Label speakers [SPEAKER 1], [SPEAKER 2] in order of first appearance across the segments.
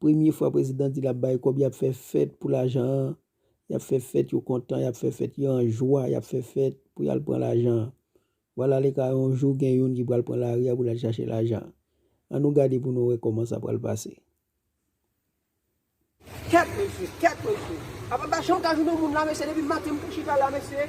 [SPEAKER 1] Premye fwa prezidan di lap bay kob yap fè fèt pou lajan an yap fè fèt yo kontan yap fè fèt yo an jwa yap fè fèt pou yal pran lajan an vwala le ka yon jou gen youn ki pral pran lari a pou lal chache lajan an an nou gade pou nou wè koman sa pral pase.
[SPEAKER 2] Kèt mesye kèt mesye. Apa m pa janm ka jwenn yon moun la mesye depi maten m tou chita la mesye.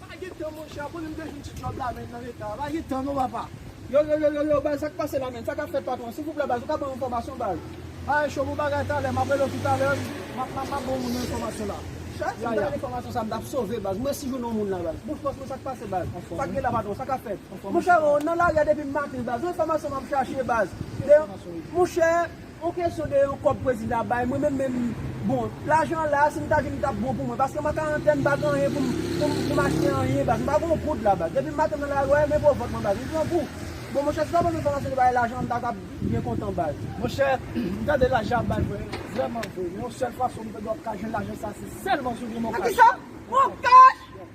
[SPEAKER 2] Pa gen tan monchè a konnen m te jwenn ti djòb la menn nan leta a pa gen tan non papa. Yo yo yo yo yo baz sak pase la menn sa kap fèt patron silvouplè baz ou ka ban m enfòmasyon baz Ae cho bon bagay talè map rele w tou talè map map map ban w enfòmasyon la Chat si m ta gen enfòmasyon sa m tap sove baz m resi jwenn yon moun la baz bon fòs mwen sak pase baz sak gen la patron sa kap fèt monchè m nan lari a depi m maten baz yon enfòmasyon map chache baz de yon monchè. On kesyon de yon kob prezidan ap bay mwen menm menm bon lajan la si m ta jwenn li tap bon pou mwen paske m an karantèn m pa gen anyen pou m pou m achte anyen baz m pa gen yon goud la baz depi maten m nan lari wè men vovòt mwen baz m pran kou bon monchè si ta ban m enfòmasyon de bagay lajan m ta ka byen kontan baz. Monchè m tande lajan ap bay mwen vrèman vre men yon sèl fason m ta dwe ap ka jwenn lajan sa se sèlman sou Democcash. Nan kisa? Bon cash!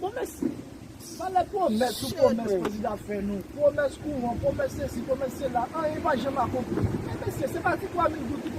[SPEAKER 2] Bon mèsi. Pale pwomès sou pwomès prezidan ap fè nou. Pwomès kouran, pwomès sesi, pwomès sela. Anyen pa janm akonpli. Men mesye, se pa ti 3 mil goud ki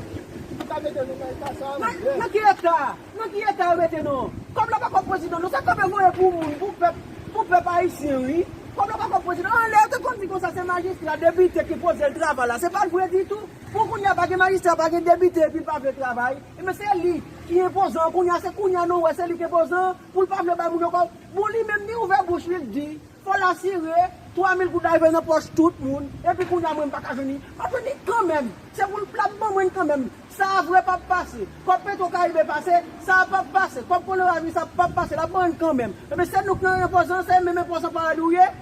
[SPEAKER 2] pou ta mete nou nan eta sa a non. Nan, nan ki eta? Nan ki eta yo mete nou? Kòb la pa kòb prezidan non. Se kòb yo voye pou moun, pou pèp, pou pèp ayisyen wi. Kòb la pa kòb prezidan. An lè yo te konn di konsa se majistra, depite ki poze l travay la. Se pa t vre ditou. Pou kounye a pa gen majistra, pa gen depite epi l pa vle travay. Enben se li ki enpozan. Kounye a se kounye a nou wè se li ki enpozan. Poul pa vle bay moun yo kob. Bon li menm li ouvè bouch li li di fòl asire 3 mil goud rive nan pòch tout moun epi kounya mwen mpaka jwenn li map jwenn li kanmenm se poul lap ban mwenn kanmenm saa vre pap pase kòb petro karibe pase saa pap pase kòb polo avi sa pap pase lap ban mwenn kanmenm ebyen se nou k nan enpòzan se menm enpòzan paradi ou ye